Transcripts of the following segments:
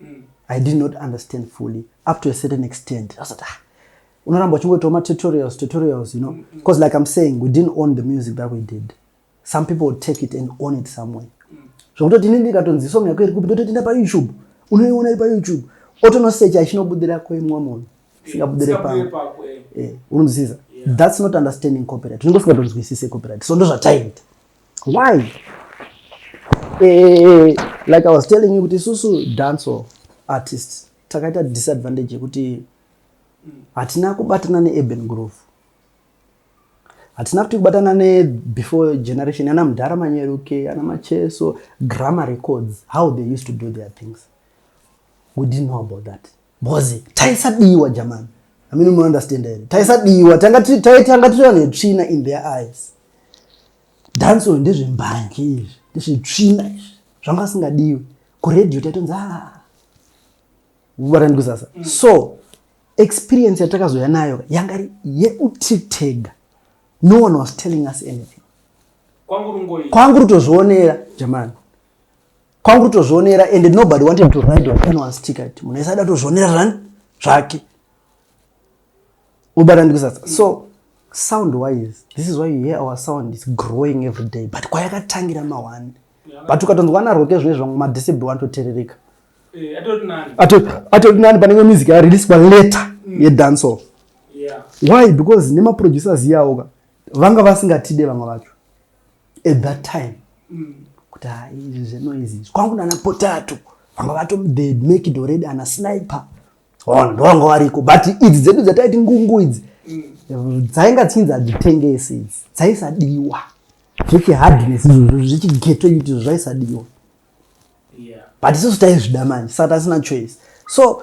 mm. i did not understand fully up to a certain extent asati ah, unoramba uchingoitawo matutorials tutorials you know because mm, mm. like i'm saying we didn't own the music that we did some people would take it and own it somewhere mm. zvokutoti ini ndikatonzi song yako iri kupi ndototi nda payoutube unoiona iri payoutube otonosecha ichinobudira kwemwa munhu singabudire pamwe eh, unonzisiza that's not understanding copyright unenge usingatonzwisise copyright so ndozvataiita Why? Eh, like I was telling you kuti susu dancehall artists takaita disadvantage yekuti hatina kubatana neurban groove hatina kuti kubatana nebefore generation ana mudhara manyeruke ana macheso grammar records how they used to do their things we didn't know about that Mhozi taisadiwa jamani. I mean mu understand here. Taisadiwa tanga taitanga tiri vanhu vetsvina in their eyes. Dance uyu ndezve mbanje izvi. Ndezve tsvina izvi. Zvanga singadiwi. Ku radio taitonzi ah. Varani kusasa. Mm. So experience yatakazoya nayo yanga yekuti tega. No one was telling us anything. Kwangu rutozvionera jamani. kwangu tozvionera and nobody wanted to ride on anyone's ticket munhu aisada tozvionera zvani zvake ubata ndikusasa so sound wise this is why you hear our sound is growing every day but kwayakatangira mawani but ukatonzwa ana roke zvine zvamwe madecibel anototerereka eh, atoti nani panenge music yareliswa later mm. yedance off why because nemaproducers iyawoka vanga vasingatide vamwe vacho at that time mm. kuti ha izvi zvenoizi izvi kwangu nana potato vanga vato the make it already ana sniper on ndovanga variko but idzi dzedu dzataiti ngungu idzi mm. dzainga dzinzi hadzitengesi idzi dzaisadiwa zvechihardness izvozvo zvechigeto kuti zvaisadiwa but isusu taizvida manje saka tasina choice so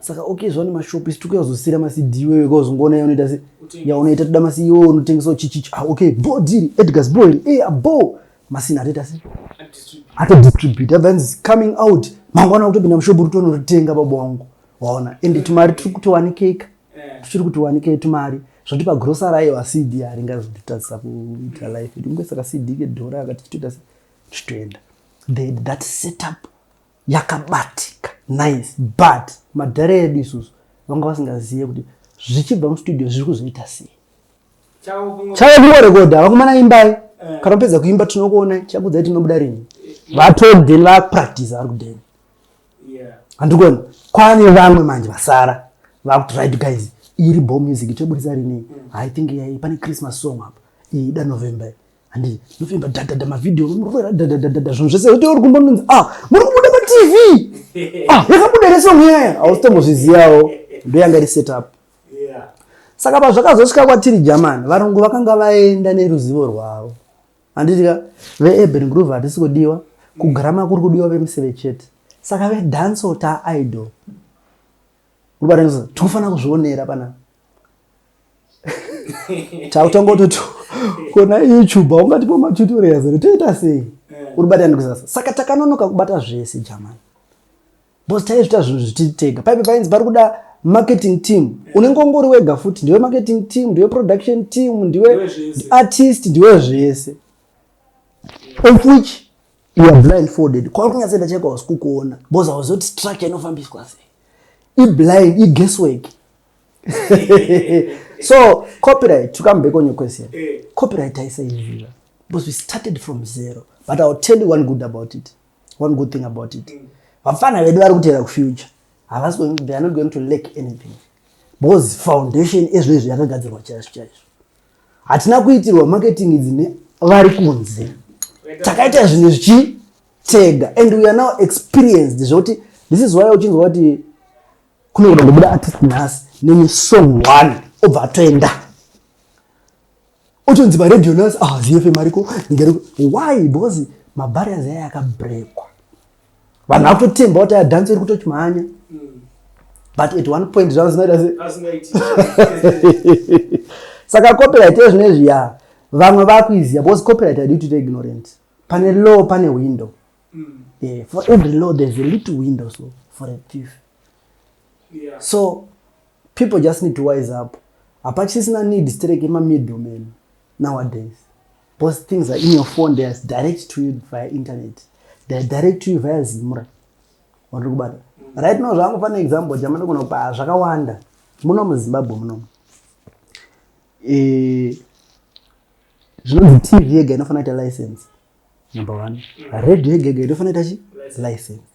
saka okay zvani mashop isi tikuya kuzosira macd iwewe kauzongoona ya unoita se yaunoita toda macd iwewe unotengesawo chichichi ah okay bo diri edgars bo iri eya bo masina atoita se atodistribute abva yanzi coming out mangwana kutopinda mushopu uri tonoritenga baba wangu waona ende tumari tiri kutowanikeka eh. tichiri kutiwanikei tumari zvoti pagrosari aiwa cd haringazotitadzisa kuita life edu kunge saka cd kedhora akati tichitoita se tichitoenda they had that setup yakabatika nice but madhare edu isusu vanga vasingazive kuti zvichibva mustudio zviri kuzoita sei chave kungorekodha vakomana imbai eh. kana pedza kuimba tinokuona chakudzai tinobuda rini vatodhen vapractice vari kudhen handikuona kwane vamwe manje vasara vakuti right guys iri bo music toburitsa rinei mm. i think yai pane christmas song apa iyi da november Handi nofimba dadada mavideo murovera dadadadada zvinhu zvese kuti uri kumbononzi ah muri kubuda pa TV. Ah yakabuda ere song yaya ausitombozviziyawo ndoyanga iri set up. Saka pazvakazosvika kwatiri German varungu vakanga vaenda neruzivo rwavo. Handiti ka veUrban Groove hatisi kudiwa kugrama kuri kudiwa vemuseve chete. Saka vedance ta idol. ubatanisa tikufanira kuzvionera pana tautanga utoti kona youtube haungatipo matutorials ere toita sei eh. uri bata ndikuzasa saka takanonoka kubata zvese jamani bcause taizvita zvinhu zvititega paipe painzi pari kuda marketing team eh. unenge ungori wega futi ndiwe marketing team ndiwe production team ndiwe artist ndiwe zvese of which you are blindfolded kwauri kunyatsoenda chaiko hausi kukuona bcause hauzi kuti structure inofambiswa sei iblind iguess work so copyright to come back on your question eh. copyright aisaizvira because we started from zero but iwill tell you one good about it one good thing about it mm. vafana vedu vari kutera kufuture havasi they are not going to lack anything because foundation ezvo izvo yakagadzirwa chaizvo chaizvo hatina kuitirwa marketing idzi nevari kunze takaita zvinhu zvichi tega and we are now experienced zvekuti this is why uchinzwa kuti kunokuda kubuda artist nhasi neni song one obva atoenda uchinzi paredio nhasi ah zfm ariko ngeriko why because mabarriers aya akabrekwa vanhu vakutotemba kuti adhansi iri kutochimhanya mm. but at one point zvavo zvinoita saka copyright ezvino izvi ya vamwe vakuiziva because copyright adi kuti ignorant pane law pane window mm. yeah, for every law there's a little window so for a thief yeah. so people just need to wise up hapachisisina need strek emamiddleman nowadays Those things are in your phone, they are direct to you via internet. They are direct to you via Zimra. Wandiri kubata. Right now zvangu pane example jamana kuna kupa ah, zvakawanda. Muno mu Zimbabwe muno. Eh zvinonzi TV yega inofanira kuita license. Number 1. Radio yega yega inofanira kuita chi? License.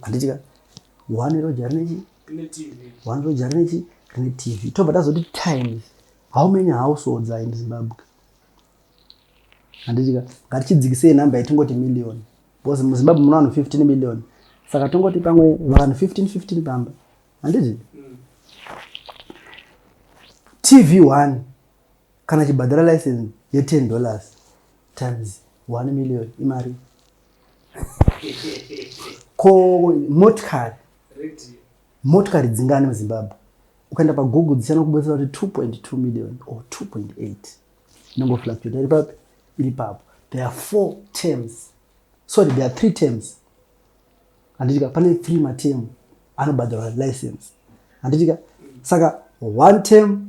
handiti ka one roja rine chi one roja rine chi rine tv tobva tazoti times how many households are in zimbabwe handiti ka ngatichidzikisei number yatingoti million because muzimbabwe muna vanhu 15 million saka tongoti pamwe vanhu 15 15 pamba handiti mm. tv one Kana chibhadhara license ye 10 dollars times 1 million imari. Ko motikari motikari dzingani muzimbabwe ukaenda pagoogle dzichana kubetsera kuti 2.2 million or 2.8 inongofluctuate iri papi iri papo there are four terms sorry there are three terms handitika pane three matemu anobhadharwa license handitika saka one term